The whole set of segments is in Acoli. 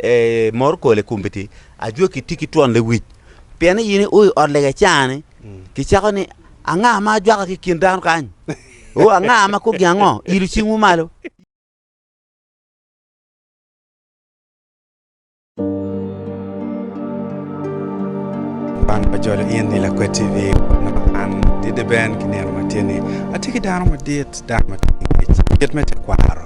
Ee, mor kole i kom Betel. Ajwaki itye ki twon lewic, pien ni in io i ot lega i caa-ni, kicako ni, Anga ma ajwaka ki i kin dano kany? O, anga ma kogi ango? Ilu cingwu malo. Wan wa jolo in ni Lakwed TV ma an Dede Ben ki nino ma tye ni atye ki dano madit, dano ma tye ki ngec, kit me tekwaro.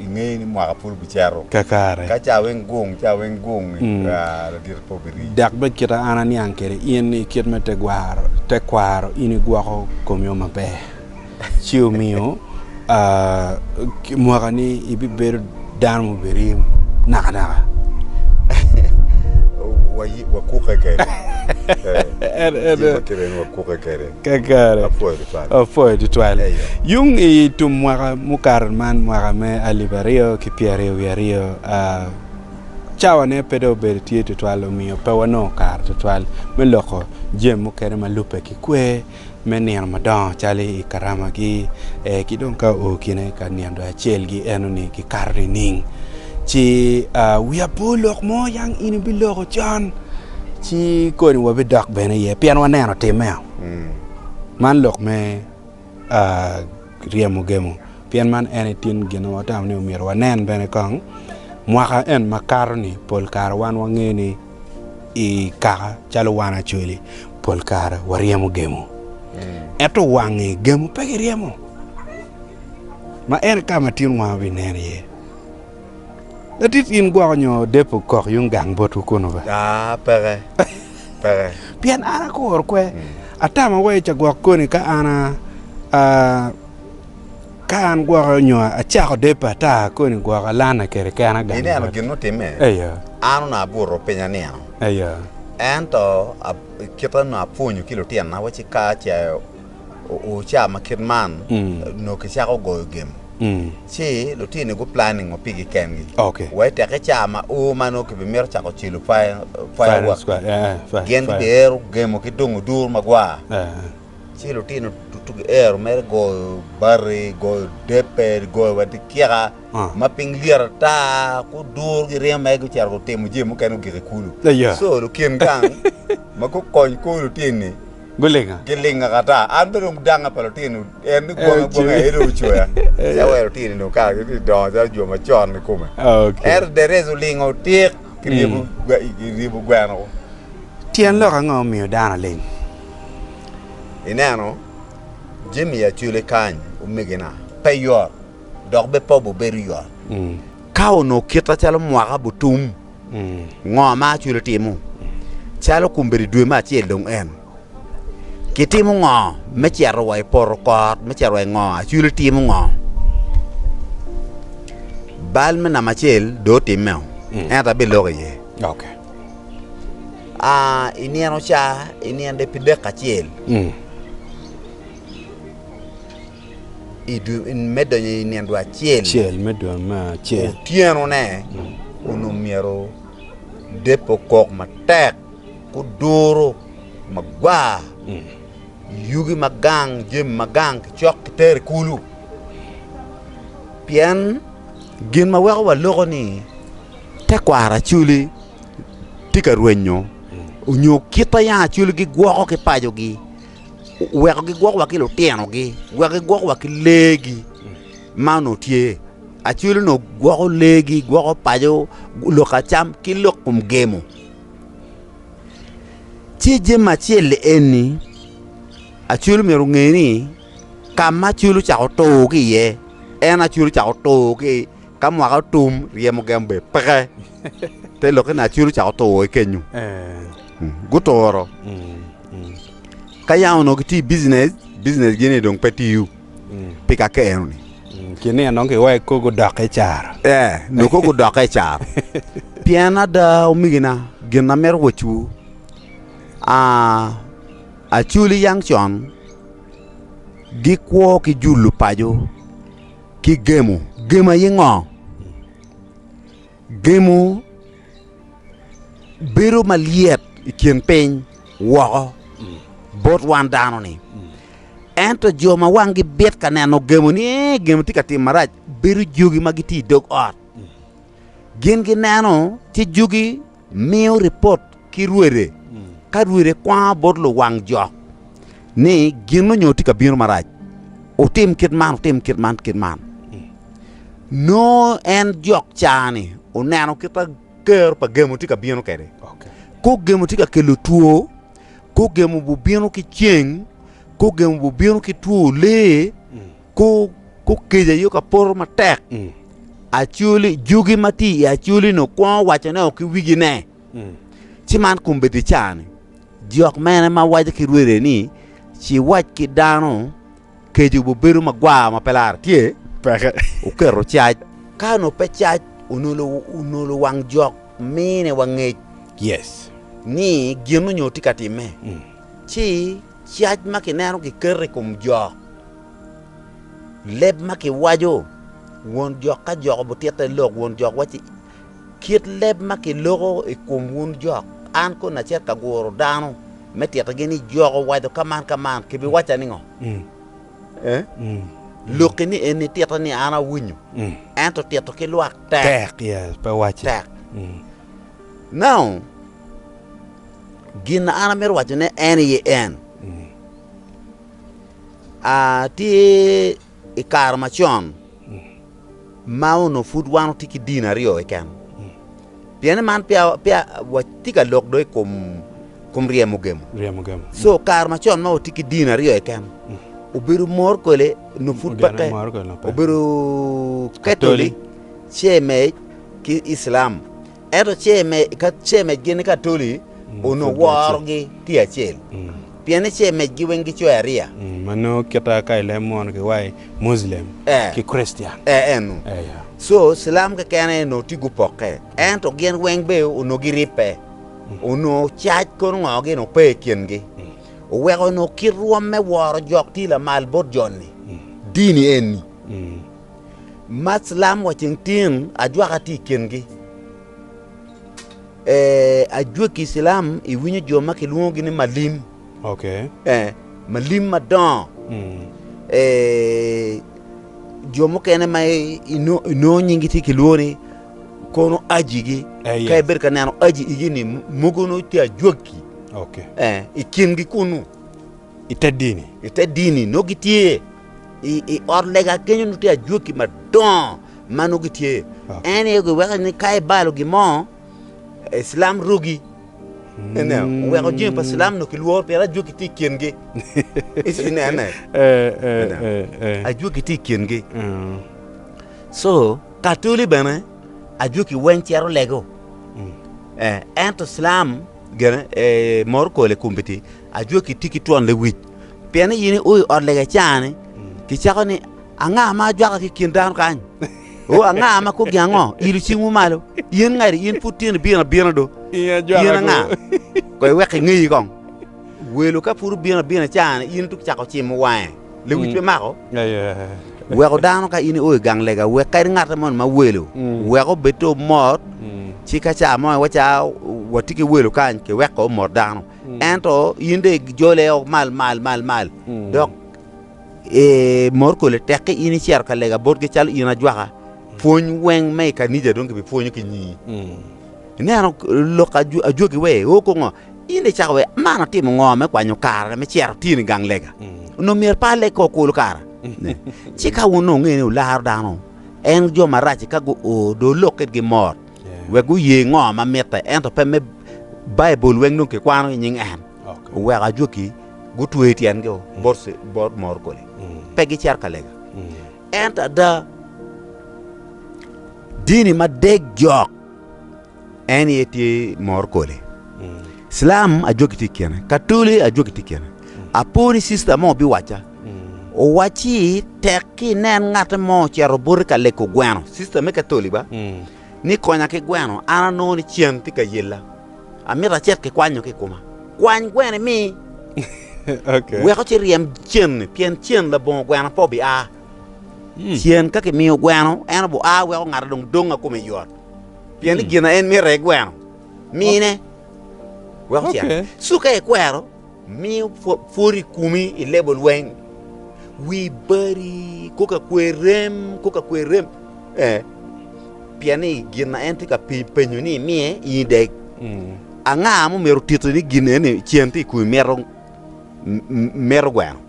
ingeyo ni mwaka pud obicito. Kakare. Ka ca weng gung, ca weng gung, ladito pe obiri. Dok bed kita an aniang kede in ni kit me tegwaro, tekwaro, in igwoko komiwo maber, ci omiyo mwaka ni ibibedo dano ma obirim naka naka. Wakuke kede. Jebbe kede ni wakuke kede. Kakare. Apwoyo tutwal. Yung i tum mwaka mukato man mwaka me alip aryo ki pyeraryo wiye aryo, cawa ne pe dong obedo tye tutwal omiyo pe wanongo kare tutwal me loko jami mukene ma lubbe ki kwer me nino madongo calo i karama gi ki dong ka oo kine ka nino dong acel gi eno ni ki kato nining ci wiya pe olok mo yang in ibiloko con. Ci koni wabidok bene iye, pien waneno timme. Man lok me ryemo gemo, pien man en aye tin gin ma watamo ni omyero wanen bene kong. Mwaka en makato-ni, pol kare wan wangeyo ni i kaka calo wan Acholi, pol kare waryemo gemo. Ento wange gemo pe giryemo, ma en aye ka ma tinwa wabinen iye. Latit in gwoko nyo depo kok yung gang botwu kunu be? Aa, peke, peke. Pien an akuro kwe, atama wa i cagwok koni ka an a, a, ka an gwoko nyo acako depo ata koni gwoko alana kede kena gang Ineno bot. gin mutimme? Eyo, An onongo abuto piny anino. eyo. Ento a- i kite onongo apwonyo ki lutinona wacci ka ce o- oca ma kit man, Mm. nongo kicako goyo gem. ci lutino-ni guplanningo pigi kengi wai tek i caa ma ur ma nongo kibimito cako cilo fireworks-ki, gin gibiero gemo ki dongo dur magwar. Ci lutino ducu giero mere goyo bati, goyo debbe, goyo wa dikiaka ma piny lyet ata, ku dur giringo mere gucito gutimo jami mukene gugik i kulu. So lukin gang ma gukony kor lutini-ni, Gulinga. Gilinga kata. An bene dong danga pa lutino en ni gwonga gwonga aye dong ocoya. Eka wai lutino dong kare gi dong dongo calo jo macon ni kome. Ento Derez olingo otik ki ryebo gweno ko. Tyen lok ango omiyo dano ling? Ineno, jami ya cule kany omegina. Pe yot, dok bed pe obedo yot ka onongo kite calo mwaka butum. Ngo ma acwilo timo? Calo kombeddi dwe me acel dong en, kitimo ngo me cito wa i poto kor me cito wa i ngo? Acwilo timo ngo? Bal me namba acel dong otimmeo, ento abiloko iye. I nino ca, i nino de pi dek acel. me donyo i nino acel me donyo me acel otyeno ne onongo myero depe okok matek guduro magwar yugi magang jami magang kicok ki tero i kulu pien gin ma weko waloko ni te kwaro acwli tye ka rwenyo onyo kit ma yanga acwli gi gwoko ki paco gi. weko gigwokwa ki lutinogi, weko gigwokwa ki leegi ma onongo tye. Acwelo onongo gwoko leegi, gwoko paco, lok ka cam ki lok kom gemo. Ci jami acel-li eni acwelo myero onge ni ka ma acwelo ocako tur ki iye en acwelo ocako tur ki ka mwaka otum ryemo gemo bene peke. Te lokke Naciri ocako to woko ki kenyu. Guturo. Ka yam onongo gitye i bijinec, bijinec-gi-ni dong pe tiyo pi ka keno-ni. Ki nino nongo giweko kor gudokke i caro. Ee, nongo kor gudokke i caro. Pien ada, omegina, gin amito wacciwu, acoli yang con gikwo ki julo paco ki gemo. Gemo aye ngo? gemo bedo malyet i kin piny woko bot wan dano-ni. Ento jo ma wanggi bit ka neno gemo ni ee gemo tye ka tim marac bedo jogi ma gitye i dog ot. Gin gineno ci jogi miyo ripot ki rwede, ka rwede kwango bot luwang jok ni gin onyo tye ka bino marac, wutim kit man, wutim kit man, kit man. Nongo en jok caa-ni oneno kit ma kero pa gemo tye ka bino kwede. Kok gemo tye ka kelo two, kok gemo bubino ki ceng, kok gemo bubino ki two lee, Kukica aye ka poto matek, acoli jugi ma tye i acolino kwongo waco ne ki wigi ne, ci man kombeddi cani jok mene ma waco ki rwede ni ci wac ki dano keco bubedo magwar ma pe lara tye peke oketo cac ka no pe cac onolo onolo wang jok mine wangec yes ni gin onyo tye ka time ci Cac ma kineno kiketo i kom jo. Leb ma kiwaco. Won jok ka jok obutitte lok, won jok wacci, Kit leb ma kiloko i kom wun jok, an koni acito ka guro dano me tittigi ni jok owaco ka man ka man, kibiwacca ningo? Lokki ni en nititte ni an awinyo, ento tito ki lwak tek. Now, Gin an amito wacone en aye en tye i kare macon ma onongo pud wan watye ki dini aryo keken pien ni man peya watye ka lok dong i kom ryemo gemo so kare macon ma watye ki dini aryo keken obedo mor kwele onongo pud peke obedo katolic ce mec ki Iclam Ento ce mecgi ni Katoli onongo worogi tye acel, pien ni ce mecgi weng gicoyo ariya. Ma nongo kite ka ilemo mono ki wa i Muslim ki Krictian. Ee, eno. So, Cilam keken aye onongo tye gupokke. Ento gin weng be onongo giribbe. Onongo cac kono ngo gin ope i kingi. Oweko onongo kit rwom me woro jok tye lamal bot joni. Dini eni Mac lam wa ceng tin ajwaka tye i kingi. Eh, ajwegi i cilam iwinyo jo ma kilwongogi ni malim. Okay. Eh, malim madongo. Mm. Eh, jo mukene ma inongo nyingi tye kilwongo ni kono ajigi. Eh, yes. Ka ibedo ka neno aji igi ni mogo no tye ajwegi. Okay. Eh, i kingi kunu. Ite dini. Ite dini no gitye. I ot lega kenyo nongo tye ajwaki madongo ma nongo gitye. En aye giweko ni ka ibalo gin mo, cilam rugi. Ineno, oweko jami pa cilam nongo kilworo pien ajwaki tye i kingi. Inene, ajwaki tye i kingi. So katoli bene ajwaki weng cito lego, ento cilam gene morokole kombeddi ajwaki tye ki twon lewic. pien ni in io i ot lega ica-ni, kicako ni, Anga ma ajwaka ki i kin dano kany? O, anga ma koggi ango? Ilo cingwu malo. In ngati? In pud tino ibino abina do? In anga? Koy wek ingeyi kong. Welo ka pud obino abina ica-ni, in tuk cako cimo wange, lewic pe mako? Weko dano ka in io i gang lega, wek kadi ngatte moni ma welo, wek obed te omot, ci ka ca mo iwaca, Watye ki welo kany, kiweko omot dano. Ento in dong ijole o mal mal mal mal dok eh, mor kole tek ki in icito ka lega botgi calo in ajwaka pwony weng me i kanija dong kibipwonyo ki nyingi ineno lok ajw- ajwagi we o kongo in dong icako we man atimo ngo me kwanyo kara me cero tino i gang lega onongo myero pa aleg ko kulu kara Ne. ci ka wun onongo ungene ularo dano en jo marac ka guo dong olok kitgi mot wek guye ngo ma mitte ento pe me Baibul weng dong kikwano i nying en. Oweko ajwaki gutweyo tyengi bot morkole, pe gicito ka lega. Ento ada, dini ma dek jok en aye tye morkole. Cilam ajwaki tye i kine, Katoli ajwaki tye i kine. Apo ni cista mo biwacca Owacci tek ki inen ngatte mo ocito boti ka lego gweno, cista me katoli ba, ni konya ki gweno, an anongo ni cen tye ka yella, amito acit ki kwanyo ki i kuma. Kwany gweno imi, wek ocit ryem cen-ni, pien cen labongo gweno pe obia. Cen ka kimiyo gweno, en obua wek ongate dong donga kome yot, pien ni gin ma en mito aye gweno. Mine wek ocit. Ci ka ikwero. Miyo pwod i kumi i lebo lweny, wi badi kong ka kwer rem, kong ka kwer rem, ee, pien ni gin ma en tye ka penyo ni imiye in ideg. Anga ma omyero otiti ni gin eni cen tye i kumi mito mito gweno?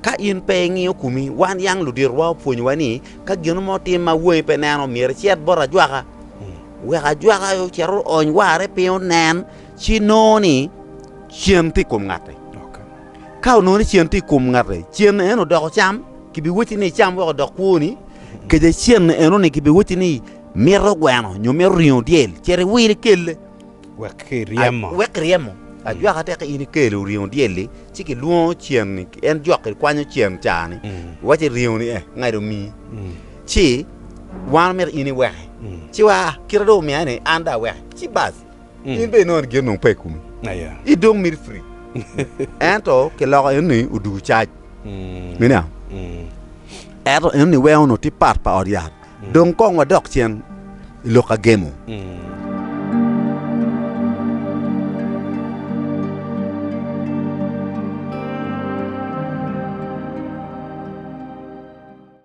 Ka in pe ingiyo kumi, wan yang luditowa opwonyowa ni ka gin mo otim ma wangi pe neno myero icit bot ajwaka, wek ajwaka ocit oony warre piny onen. Ci nongo ni cen tye i kom ngati. Ka onongo ni cen tye i kom ngati, cen eno odoko cam, kibiwacci ni icam wek odok kwoni. Kece cen eno ni kibiwacci ni mito gweno nyo mito ringo dyel, cit iwil ikelle. Wek kiryemo. Wek kiryemo. Ajwaka tek in ikelo ringo dyel-li, ci kilwongo cen-ni, en jok kikwanyo cen ca-ni, iwacci ringo-ni eh, ngati omii. Ci wan omito in iweke. Ci wa, kite dong omiya-ni, an dong aweke. Ci bas. in bene inongo gin onongo pe i komi, in dong miti free. Ento kiloko enoni odoko cac. Miniang? Ento enoni weko onongo tye part pa ot yat. Dong kong wadok cen i lok ka gemo.